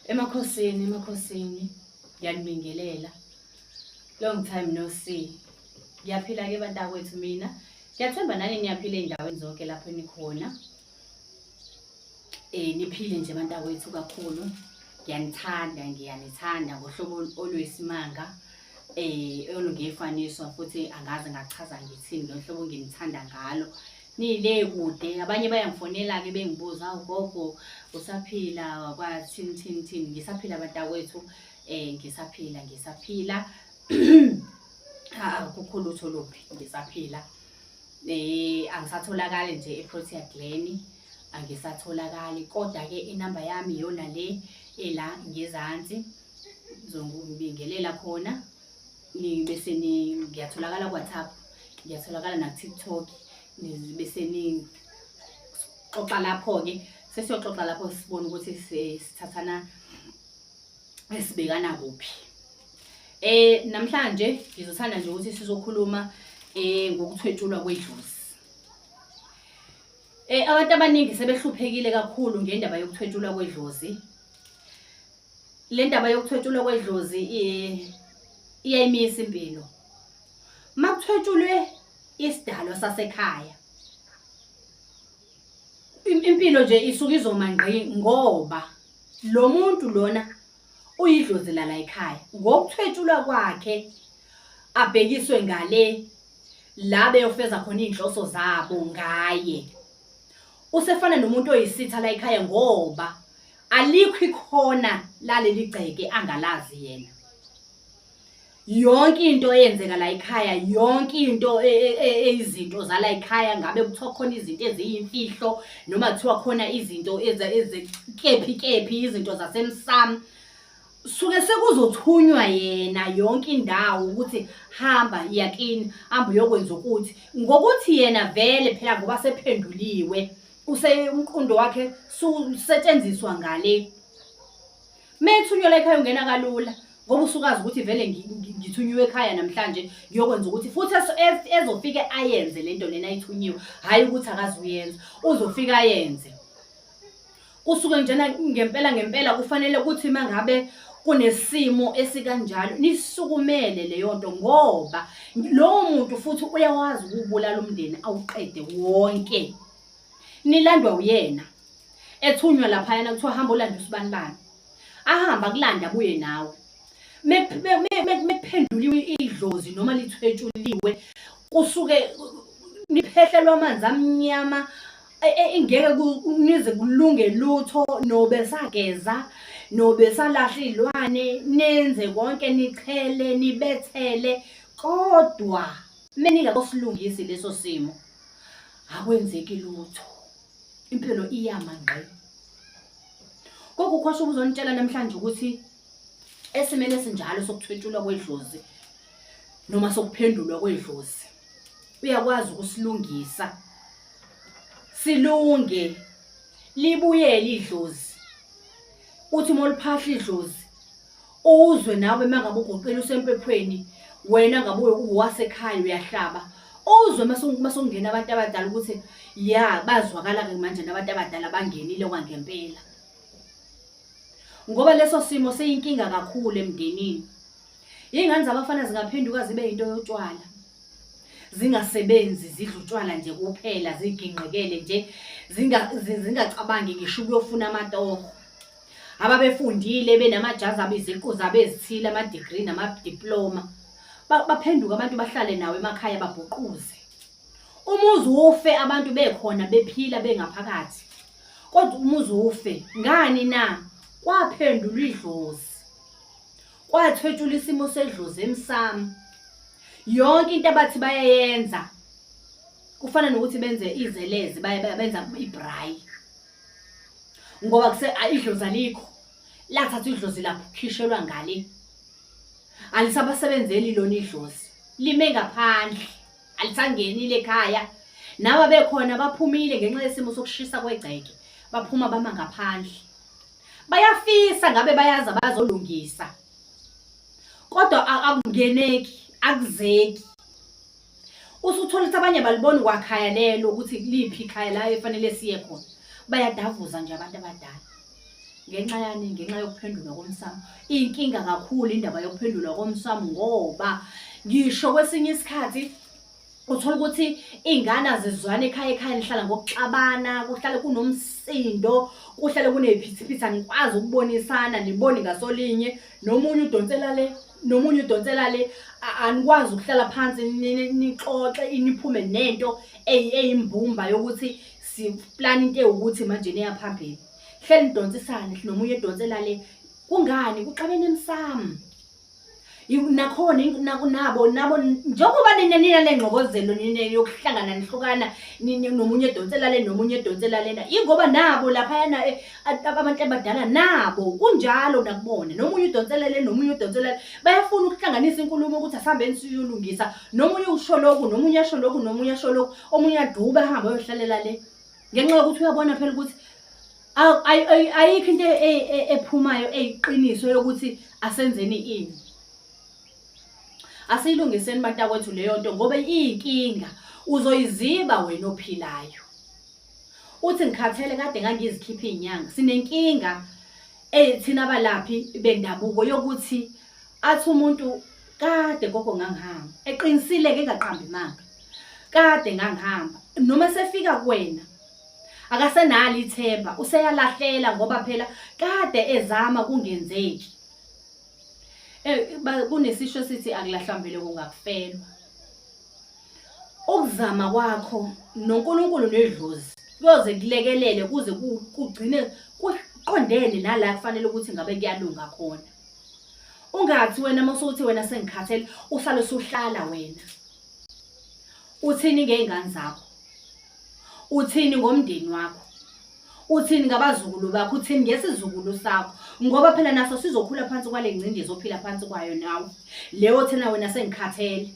Emakhosini, emakhosini, ngiyanibingelela. Long time no see. Ngiyaphila ke bantakwethu mina. Ngiyathemba nani niyaphila ey'ndaweni zonke lapho enikhona. Eh niphile nje bantakwethu kakhulu. Ngiyanithanda, ngiyanithanda ngohlobo olwesimanga. Eh olungefaniso futhi angazi ngachaza ngithini ngohlobo nginithanda ngalo. Nile kude abanye bayangifonela-ke bengibuza awu gogo usaphila kwathini thini thini ngisaphila bantakwethu um eh, ngisaphila ngisaphila akukho lutho luphi ngisaphila um angisatholakali nje eprotea glen angisatholakali kodwa-ke inamba yami iyona le ela ngezansi ngizongibingelela khona bese ngiyatholakala kuwhatsapp ngiyatholakala nakutiktok bese nixoxa lapho-ke sesiyoxoxa lapho sibone ukuthi sithathana esibekana kuphi eh namhlanje ngizothanda nje ukuthi sizokhuluma eh ngokuthwetshulwa kwedlozi eh abantu abaningi sebehluphekile kakhulu ngendaba yokuthwetshulwa kwedlozi le ndaba yokuthwetshulwa kwedlozi iyayimisa impilo uma kuthwetshulwe isidalwa sasekhaya impilo nje isuke izoma ngqi ngoba lo muntu lona uyidlozi lala ekhaya ngokuthwetshulwa kwakhe abhekiswe ngale la beyofeza khona iy'nhloso zabo ngaye usefana nomuntu oyisitha la ekhaya ngoba alikho ikhona laleli gceke angalazi yena yonke into eyenzeka la ekhaya yonke into e, e, e, eyizinto zala ekhaya ngabe kuthiwa khona izinto eziyimfihlo noma kuthiwa khona izinto ezekephi kephi izinto zasemsamo suke sekuzothunywa yena yonke indawo ukuthi hamba yakini hamba uyokwenza ukuthi ngokuthi yena vele phela ngoba sephenduliwe use umqondo wakhe susetshenziswa ngale methunyelwa ekhaya ungena kalula ngoba usukazi ukuthi vele ngithunyiwe ekhaya namhlanje ngiyokwenza ukuthi futhi ezofike ayenze lento lena ayithunyiwe hhayi ukuthi akazuyenza uzofika ayenze kusuke njena ngempela ngempela kufanele ukuthi mangabe kunesimo esikanjalo nisukumele leyo nto ngoba lowo muntu futhi uyawazi ukubulala umndeni awuqede wonke nilandwa uyena ethunywa laphayana kuthiwa hamba olanda usibani bani ahamba kulanda abuye nawe mekuphenduliwe idlozi noma lithwetshuliwe kusuke niphehlelwa amanzi amnyama e, e, ingeke nize kulunge lutho nobesageza nobesalahla iy'lwane nenze konke nichele nibethele kodwa meningakosilungisi leso simo akwenzeki lutho impilo iyama ngqi kokukhosha ubuzonitshela namhlanje ukuthi esimeni esinjalo sokuthwetshulwa kwedlozi noma sokuphendulwa kwedlozi uyakwazi ukusilungisa silunge libuyele idlozi uthi uma uliphahla idlozi uzwe nawe mangabe ugoqile usempephweni wena ngabe uwasekhaya uyahlaba uzwe masongena abantu abadala ukuthi ya bazwakala-ke manje nabantu abadala bangenile kwangempela ngoba leso simo seyinkinga kakhulu emndenini iy'ngane zabafana zingaphenduka zibe yinto yotshwala zingasebenzi zidla utshwala nje kuphela zigingqekele nje zingacabangi ngisho ukuyofuna amatoho ababefundile benamajazi abo iziqu zabo ezithile ama-degree namadiploma baphenduke abantu bahlale nawo emakhaya babhuquze umuzi ufe abantu bekhona bephila bengaphakathi kodwa umuzi ufe ngani na kwaphendulwa idlozi kwathwetshula isimo sedlozi emsamo yonke into abathi bayayenza kufana nokuthi benze izelezi benza ibrayi ngoba kuse idlozi alikho lathatha idlozi lapho khishelwa ngale alisabasebenzeli lona idlozi lime ngaphandle alisangenile ekhaya nawa bekhona baphumile ngenxa yesimo sokushisa kwegceke baphuma bama ngaphandle bayafisa ngabe bayazi abazolungisa kodwa akungeneki akuzeki usuthole ukuthi abanye balibona kwakhaya lelo ukuthi liphi ikhaya la efanele siye khona bayadavuza nje abantu abadala ngenxa yani ngenxa yokuphendulwa komsamo inkinga kakhulu indaba yokuphendulwa komsamo ngoba ngisho kwesinye isikhathi uthola ukuthi iy'ngane azizwane ekhaya ekhaya lihlala ngokuxabana kuhlale kunomsindo kuhlale kuney'phithiphithi anikwazi ukubonisana niboni ngasolinye nomunye udonsela le nomunye udonsela le a- anikwazi ukuhlala phansi ni- ni- nixoxe iniphume nento eyi- eyimbumba yokuthi siplana into ewukuthi manje neya phambili hleli nidonsisane nomunye edonsela le kungani kuxabene emsamo Yiku- nakhona ing- naku- nabo nabo njengoba nina nina nengxokozelo nina yokuhlangana nihlukana nini- nomunye edonsela le nomunye edonsela lena ingoba nabo laphayana eh, abantu abadala nabo kunjalo nakubona nomunye udonselele nomunye udonselele bayafuna ukuhlanganisa inkulumo ukuthi asihambeni siyolungisa nomunye usho lokhu nomunye asho lokhu nomunye asho lokhu omunye aduba ahambe ayohlalela le ngenxa yokuthi uyabona phela ukuthi ayikho into e, e, ephumayo eyiqiniso yokuthi asenzeni ini asiyilungiseni bantakwethu leyo nto ngoba iyinkinga uzoyiziba wena ophilayo uthi ngikhathele kade ngangizikhipha izinyanga sinenkinga ethina eh, abalaphi bendabuko yokuthi athi umuntu kade gogo ngangihamba eqinisile ke ngaqambi manga kade ngangihamba noma sefika kuwena akasenalo ithemba useyalahlela ngoba phela kade ezama kungenzeki eh kunesisho sithi akulahlambele kungakufelwa Ukuzama kwakho noNkulunkulu nedlozi kuyoze kulekelele kuze kugcine kuqondene nala kufanele ukuthi ngabe kuyalunga khona. Ungathi wena masuthi wena sengikhathele uhlale usuhlala wena. Uthini ngeingane zakho? Uthini ngomndeni wakho? uthini ngabazukulu bakho uthini ngesizukulu sakho ngoba phela naso sizokhula phansi kwale ngcindezi ophila phansi kwayo nawe leyo thina wena sengikhathele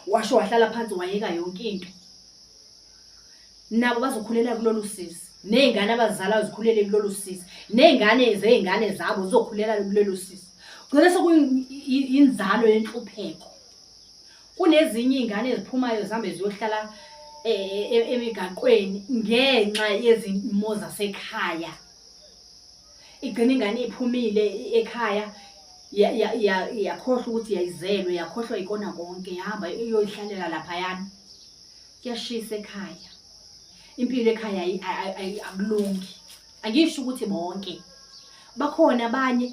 washo wahlala phansi wayeka yonke into nabo bazokhulela kulolu sisi ney'ngane abazizalayo zikhulele kulolu sisi ney'ngane zey'ngane zabo zizokhulela kulolu sisi kugcina sekuyinzalo yenhlupheko kunezinye iy'ngane eziphumayo zihambe ziyohlala e, e, e, emigaqweni ngenxa yezimo zasekhaya igcina ingane iphumile ekhaya yakhohlwa ukuthi yayizelwe yakhohlwa ikona konke yahamba iyoyihlalela laphayana kuyashisa ekhaya impilo ekhaya akulungi angisho ukuthi bonke bakhona abanye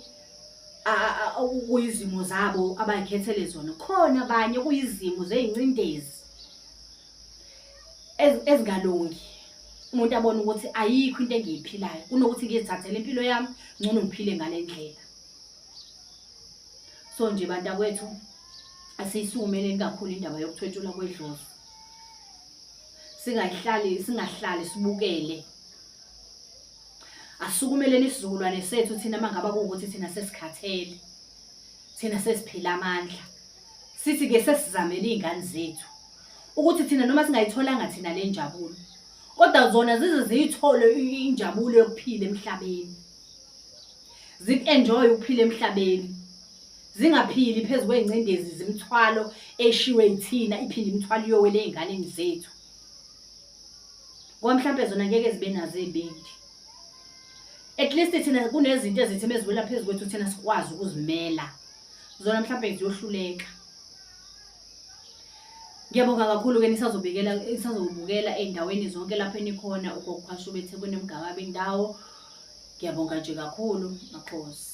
okuyizimo zabo abayikhethele zona khona abanye okuyizimo zey'ncindezi ezingalungi umuntu abone ukuthi ayikho into engiyiphilayo kunokuthi ngizithathele impilo yami ngcono ngiphile ngale ndlela so nje bantakwethu asiyisukumeleni kakhulu indaba yokuthwetshulwa kwedlozi singayihlali singahlali sibukele asukumeleni isizukulwane sethu thina mangabe kuwukuthi thina sesikhathele thina sesiphila amandla Sithi ke sesizamele izingane zethu ukuthi thina noma singayitholanga thina le njabulo kodwa zona zize ziyithole injabulo yokuphila emhlabeni ziku-enjoye ukuphila emhlabeni zingaphili phezu kwey'ngcindezi zimithwalo eshiwe yithina iphinde imithwalo iyowele ey'nganeni zethu ngoba mhlawumpe zona ngeke zibe nazo ey'bindi at least thina kunezinto ezithi meziwela phezu kwethu thina sikwazi ukuzimela zona mhlawumbe ziyohluleka ngiyabonga kakhulu-ke nisazobikela nisazobukela ey'ndaweni zonke lapho enikhona ugokuphasha ubethe kunemgaba bendawo ngiyabonga nje kakhulu makhosi